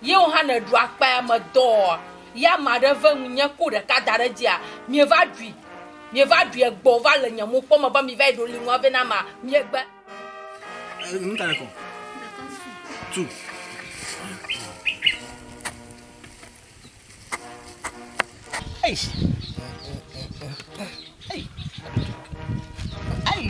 Ye wò hã nèɖu akpaya me dɔa? Ye ame aɖe ve ŋunye ku ɖeka da ɖe edzia? Mieva ɖui. Mieva ɖui egbɔ wova le nye mokpɔ me be mivayi ɖo liŋua vɛ na amea. Miegbe. Eh, nu ta kɔ. Tu. Eish. Ei. Ei.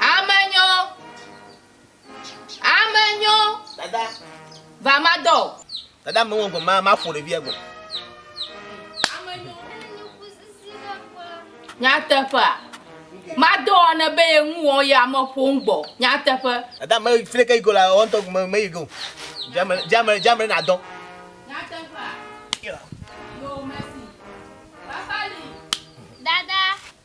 Amenyo. Amenyo. Dada. Vamadɔ. Dada me ŋgɔ ma ma fo ɖevia go. Nyateƒea. Madɔ ne be ye ŋu wɔn ya me ƒo ŋgbɔ. Nyateƒe. Dada me fle ke iko la wɔn tɔ me me yi go. Jamre jamre jamre na dɔ. Nyateƒea. Yo mesi. Papa li. Dada.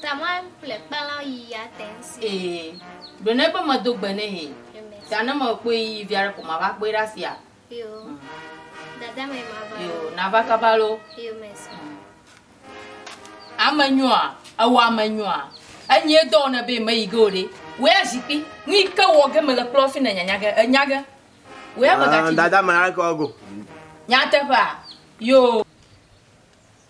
Tamar ƒle kpalã yi ya te ŋsi. Ee, ɖo ne be medo gbe nɛ hɛ. Ta ne me kpɔe yi via ɖe ko ma va kpɔe ɖe asia. Yo. Dada me ma va. Yo, na va kaba lo. Yo me so. Ame nyoa, ewa ame nyoa. Enyi edɔ wona be me yi ge o ɖe. Wo ya zikpi, nu yi ke wɔ ge me le kplɔ fi ne nya nya ge, enya ge. Wo ya be gati. Dada me na ke wɔ go. Nya teƒea. Yo.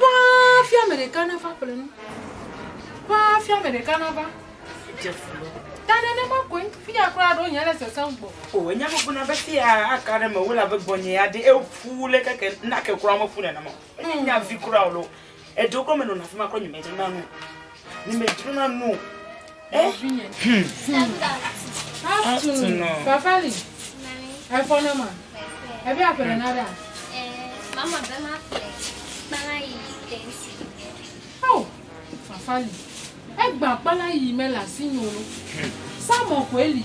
Ƒã hafi ame ɖeka nava ƒle nu. Ƒã hafi ame ɖeka nava dze fu lɔ. Ta nenema koe fia kura ɖo nye le sese ŋgbɔ. O enya gbogbo na be fia aka ɖe me wo la be gbɔnye ya ɖe eƒu le keke na ke kura me ƒu nenema. Enya vi kura o lo. Eɖo kura me nɔ na fi ma kura nye me dze na nu. Ne me dro na no. Eh? Hmm. Afternoon. Fafali. Efɔ ne ma. Ebi apere na da. Eh, mama be ma pere. Kpala yi tensi. Oh, Fafali. Egba kpala yi me la si nyolo. Samo ko eli.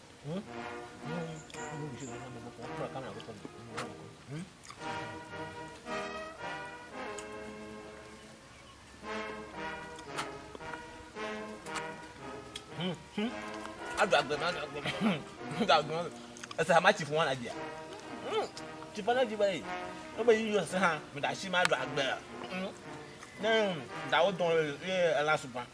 Adu agbe ma, adu agbe ma. Adu agbe ma. Ese ama tsi fún wa na dia. Tsi fún na di ba yi. Ó bẹ yíyọ sẹ hã, mi da si ma adu agbe. Ne dawo dɔn ye ela sugbɔn.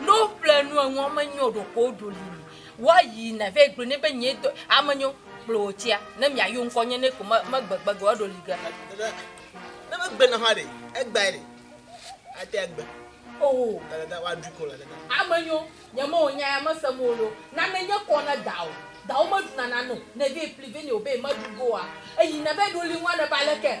Ne woƒle nu enuɔ menyo ɖo ko woɖo li mi. Woayi na vɛ gblɔ ne be nye dɔ ame nyo kple wo tia ne miayo ŋkɔ nye ne ko me megbegbe ge woɖo li ge. Ne megbe na hã ɖe egbae ɖe ate agbe. Oh. Dada woaɖu ko la dada. Ame nyo nye me wònya ya mese mo lo. Nane nye kɔ ne dawo. Dawo meɖu na nane o. Ne vɛ pli vɛ ne o be meɖu goa. Eyi na vɛ ɖo li ŋua ne ba leke.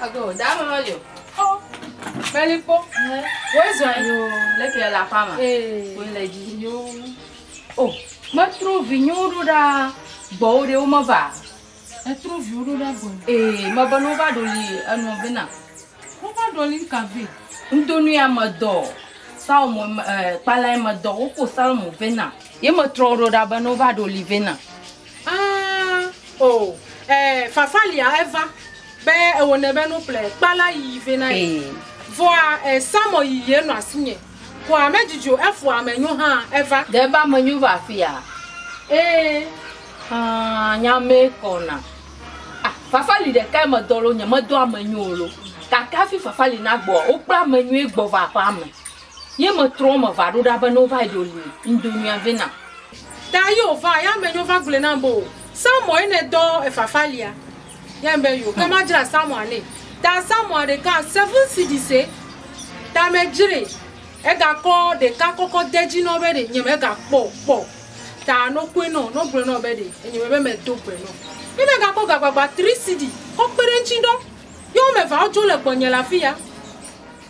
Ago da me meli o. Xɔ meli kpɔ. Wo zɔe. Yo le ke la fama. Eh. Wo le ji. Yo. Oh, me tro vi nyu ro da gbɔ wo de wo me va. E tro vi ro da gbɔ. Eh, me ba no va do li e no be na. Wo va do li ka ve. Ndo nu ya me do. Sao mo eh pala me do wo ko sal mo ve na. Ye me tro ro da be no va do li ve na. Aa o e fafa lia eva be ewo ne be no ple kpala yi ve na yi voa e samɔ yi ye no asinye koa me jijo efo ame nyo ha eva de ba me nyo va fia ee ha nya me kɔna a fafa li de ka me dɔlo nye me dɔ ame nyo lo kake afi fafa li na gbɔ o kpla ame nyo gbɔ va ƒa me Ye metrɔ eme va ɖo ɖa be ne wova yi ɖe li ŋdo nua vɛ nam. Ta ye wova ye ame nyo va gblɔe nam be o Samuel ye ne dɔ efafa lia? Ye ame be yo ke ma dzra Samuel ne ta Samuel ɖeka seven cedi se ta me dzre ega kɔ ɖeka kɔkɔ de dzi nɔ be ɖe nye me ga kpɔ o kpɔ ta no koe nɔ no gblɔe nɔ be ɖe enye me be me do gbe nɔ ye me ga kɔ ga gbagba tri cedi kɔ kpe ɖe ŋtsi ɖɔ ye wo me va wo dzo le gbɔ nye le afiya.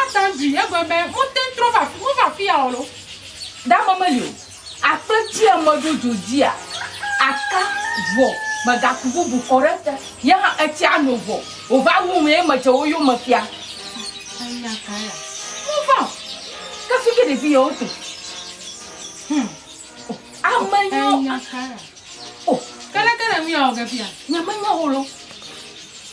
Atadui, egbe be mote ŋu trɔ va afi, mova afi ya o loo. Ɖe ame meli o. Akpe dzi ame ɖo dzo dzia, aka vɔ megaku bubu kɔ ɖe ete. Ye hã etsia no vɔ wòva wum ye medze wo yome fia. Anya kae ya? Mova o. Ke fike ɖevi yewo to. Hum. Amenyo. Kele kele mi o gepia. Nye menyo holo.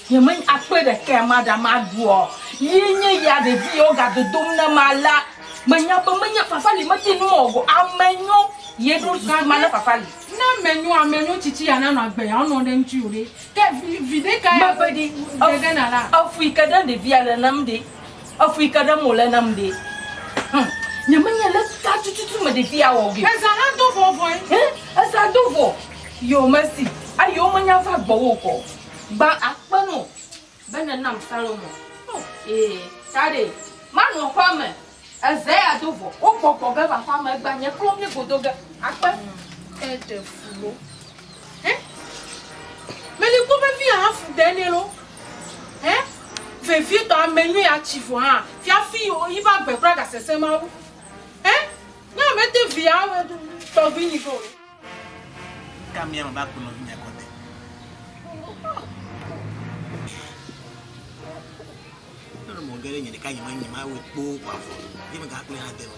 Nye men akpe de ke ma da ma duo. Ye nye ya de vi yo ga dodom na ma la. Menya pe menya papa li me tinu mo go. Amenyo. Ye do su ma na papa li. Na menyo amenyo chichi ya na no agbe ya ono de nchi ode. Ke vide ka ya. Ma pe di. Ege na la. Afui ke de de via le nam de. Efu yi ke ɖem wòle nam ɖe. Hum, nyemenye le ka tututu me ɖevi awɔ ge. Eza hã do vɔ vɔe. Hɛ, eza do vɔ. Yo mesi, ayo menya va gbɔwò kɔ. Gba akpe no be nènam Salomo. Oh, ee, ta ɖe. Manɔ aƒea me. Eza ya do vɔ. Wogbɔgbɔ ge va aƒea me, egba nye klɔ mí godo ge. Akpe. Eɖe fu wo. Hẽ? Meli kpɔ vevie ahafu ɖe nɛ lo. Hẽ? Vevietɔ ame nyui atsi vɔ hã fiafi yiƒe agbe kura gasese Mawu. Hẽ? Nyɔa mete via tɔgbi nyi vɔ o. Ka mia me va ku nɔvinyea kɔte. Nɔnɔme geɖe nye ɖeka nye menyi ma wɔ kpoo kɔ afɔ. Ye me ga kple ha de me.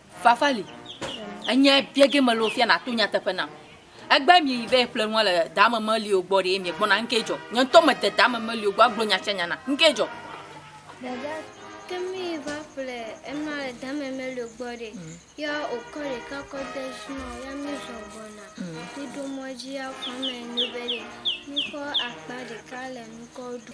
Fafali, enye biege mele wò fia nàto nyateƒe nam. Egbea mieyi va yi ƒle nua le daamemelio gbɔ ɖee miegbɔna, nu kae dzɔ? Nye ŋutɔ mede daamemelio gbɔ agblɔ nya sia nya na, nu kae dzɔ? Dada, ke míyi va ƒle enua le daamemelio gbɔ ɖe, ya wòkɔ ɖeka kɔ de dzi nɔ wo, ya mízɔ gbɔna. Míɖo mɔ dzi ya xɔame nu be ɖe míkɔ akpa ɖeka le nukɔ ɖu.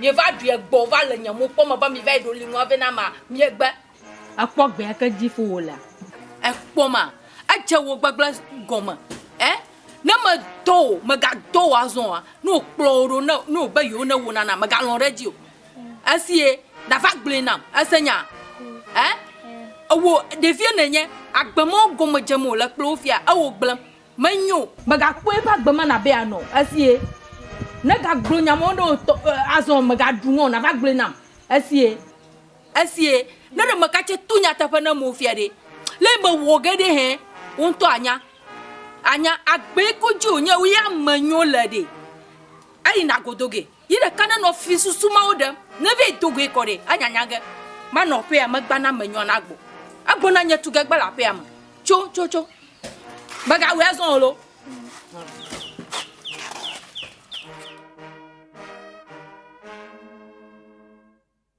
Mieva ɖui egbɔ va le nye mokpɔ me be mi va yi ɖo li nua vɛ na ma miegbe. Ekpɔ gbea ke dzi fo wo lea. Ekpɔ ma edze wo gbegble gɔme e ne me dɔ wo me ga dɔ wo azɔ wa ne wo kplɔ wo ɖo ne ne wo be yewo ne wo na na me ga lɔ ɖe dzi o esi ye da va gblɔe nam ese nya e ewo ɖevie ne nye agbe me wo gɔme dze me wo le kple wo fia ewo gblem. Menyo. Mègakpɔ eƒe agbe me nàbe yeanɔ o. Esie. Negagblɔ nya mawo na wò tɔ, azɔ mègaɖu ŋɔ o, nàva gblɔe nam. Esie. Esie. Ne ɖe mègatse to nyateƒe na amewo fia ɖe, le yi mewɔ ge ɖe hẽ, wò ŋutɔ ànya. Ànya. Agbee ko dzi wònye, wòye ame nyo le ɖe, eyina godo ge. Yi ɖeka ne nɔ fi susu mawo ɖem, ne vɛ do goe kɔ ɖe, anya nya ge, ma nɔ ƒea me gba na me nyɔa na gbɔ. Agbo na nye tugɛ gba le aƒea me. Tso, tso, tso. Mè ga wɛ azɔn olo.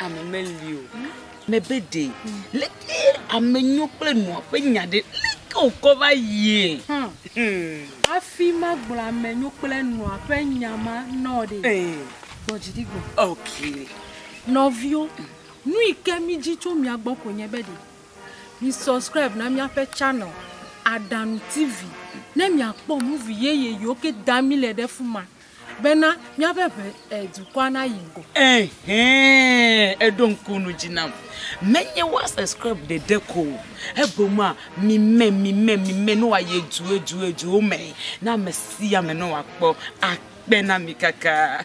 ame meli o mebe ɖe leke ame nyo kple nua ƒe nya ɖe leke wòkɔ va yie hmm. hmm. hafi magblɔ ame nyo kple nua ƒe nya ma nɔ ɖe gbɔ dziɖi gbɔ ok nɔviwo nu yi ke mi dzi tso mia gbɔ ko nye be ɖe mi subscribe na míaƒe channel aɖanu tv ne miakpɔ muvi yeye yiwo ke da mi le ɖe fu ma Bena míaƒe ʋe, e, dukɔa nayi go. Ehɛɛ, eɖo ŋku nu dzi nam. Menye woa subscribe ɖeɖe ko o, egbɔmea, mi mɛ, mi mɛ, mi mɛ ne woayi edu, edu, eduwo mɛ na ame sia ame ne wòakpɔ. Akpe na mi kaka.